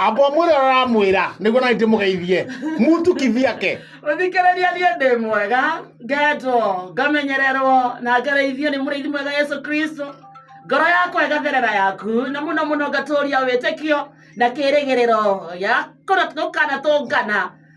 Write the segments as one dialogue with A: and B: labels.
A: amba ũmwĩre ũrĩa ũramwĩra nĩguo nani ndĩmũgeithie mutu kivyake ũthikĩrĩria niĩ
B: ndĩ mwega ngetwo ngamenyererwo na ngereithio nĩ mũrĩithi mwega yesu kristo ngoro yakwa ĩgatherera yaku na mũno mũno ngatũũria wĩtĩkio na kĩrĩgĩrĩro gĩa kũna- gũkanatũngana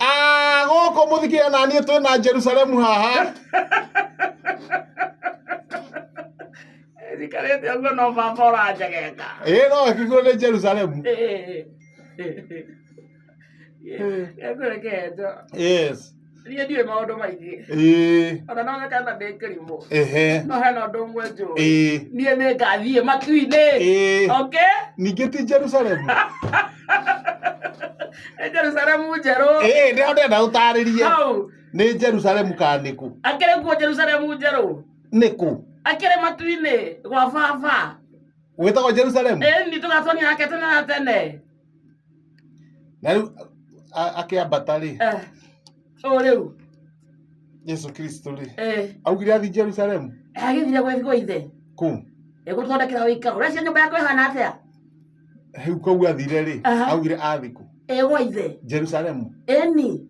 B: Ah, gũkũ
A: mũthikĩrĩria na niĩ twĩ na jerusalemu haha
B: thikarĩte ũguo no baba ũranjegeka ĩ no akigwo nĩ
A: jerusalemu ekũrekeeto yes niĩ ndiũĩ maũndũ
B: maingĩ ĩ ona no mekana ndĩ kĩrimũ ehe no hena ũndũ ũmwe njũĩ ĩ niĩ nĩ ngathiĩ matu-inĩ ĩ okay ningĩ ti jerusalemu Nĩ Jerusalemu njerũ. ĩĩ nĩ ndenda
A: ũtarĩrie Hau. nĩ jerusalemu kana nĩ kũ Akĩrĩ kuo Jerusalemu
B: njerũ. nĩ kũ
A: Akĩrĩ matu-inĩ
B: gwa baba. gwĩtagwo
A: jerusalemu Ĩĩ nĩ tũgatonia nake
B: tene na tene.
A: na rĩu a- akĩambata rĩ Eh, Ũũ rĩu. jesu kristo rĩ Eh, augire athi jerusalemu Agĩthire gwĩ gwĩ
B: ithe. kũ
A: Ĩgũthondekera
B: ũikaro. Ũreciria nyũmba yakwa ĩhana atĩa? Rĩu
A: kũu athire rĩ, Aha. augire athikũ egwa ithe
B: Jerusalemu. eni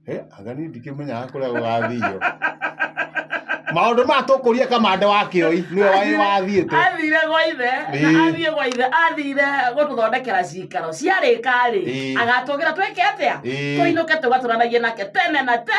A: Eh, aga niĩ ndikĩmenyaga kũrĩa gũgathiio. Maũndũ maya tũkũria kamande wa kĩoi nĩwe wĩ wathiĩte. athire gwa ithe
B: na Ĩĩ. athiĩ gwa ithe athire gũtũthondekera cikaro ciarĩka rĩ Ĩĩ. agatũgĩra twĩke atĩa Ĩĩ. tũinũke tũgatũranagie nake tene na te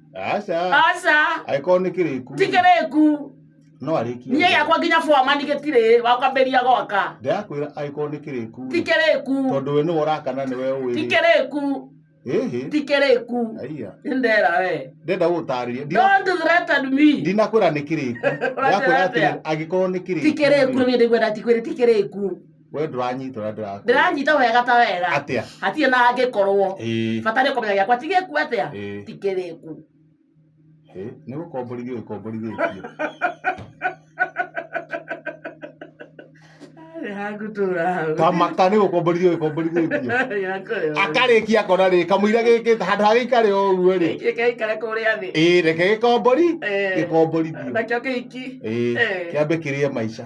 B: aca aca agĩkorwo nĩ
A: kĩrĩku ti kĩrĩku
B: no arĩkie
A: niĩ gĩakwa nginya boma
B: nĩ gĩtirĩ wakambĩria gwaka ndĩrakwĩra agĩkorwo nĩ
A: kĩrĩku ti kĩrĩku tondũ
B: we nĩwe ũrakana
A: nĩwe ũĩ ti kĩrĩku
B: ĩhĩ ti kĩrĩku aiya nĩ ndera we ndenda gũtarĩria
A: don't threaten
B: me ndinakwĩra nĩ kĩrĩku
A: Ũratwĩra ndĩrakwĩra atĩrĩ atĩa? angĩkorwo nĩ kĩrĩku ti kĩrĩku nĩ ndaigua
B: ndatikwĩrĩ ti kĩrĩku we ndũranyita
A: ũrĩa ndĩrakũria ndĩranyita wega ta
B: wera atĩa hatirĩ na
A: angĩkorwo
B: Ĩĩ, bata nĩ kũmenya gĩakwa ti gĩku atĩa ĩĩ, ti kĩrĩku ĩĩ.
A: nĩ gũkomborithio gĩkomborithĩtio kamata nĩ gũkomborithio gĩkomborithĩtio akarĩkia akona rĩ kamũira gĩkĩte handũ ha gĩikare o ũguo rĩ gĩkaikare kũrĩa thĩ
B: ĩĩ reke gĩkombori
A: Eh, gĩkomborithio nakĩo kĩhiki
B: ĩĩ Eh. kĩambe
A: kĩrĩe maica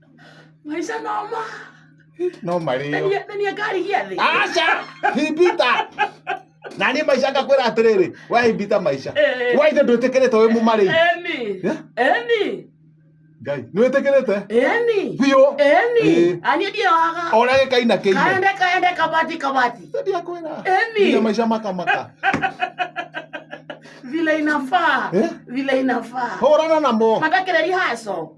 B: maica noma
A: no marĩo menia ngari gĩa
B: thĩ aca himbita
A: na niĩ maica ngakwĩra atĩrĩrĩ we himbita maica Eh. we ithe ndwĩtĩkĩrĩte wĩ mũmarĩi eni Eh? eni
B: ngai
A: nĩwĩtĩkĩrĩte eni biũ eni
B: Eh. anie ndiewaga ona gĩkaina kĩine
A: kaende kaende kabati
B: kabati ndiakwĩra
A: Eni. Nginya maica makamaka
B: vile inafaa Eh? vile inafaa hũrana namo
A: matakĩreri haco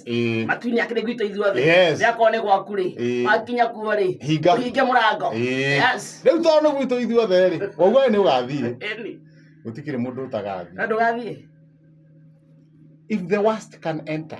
A: Eh. matuinĩ
B: akĩrĩ gwitũ ithuothe Yes. rĩrĩa korwo nĩ gwaku
A: rĩ
B: Eh. wakinya kuo rĩ Hinga. ũhinge mũrango Eh. Yes. rä u tondå nä gwitå
A: ithuothe rä waugage nä å gathiä Eni. gå
B: tikirä må ndå
A: ũtagathiĩ. na ndũgathiĩ if the worst can enter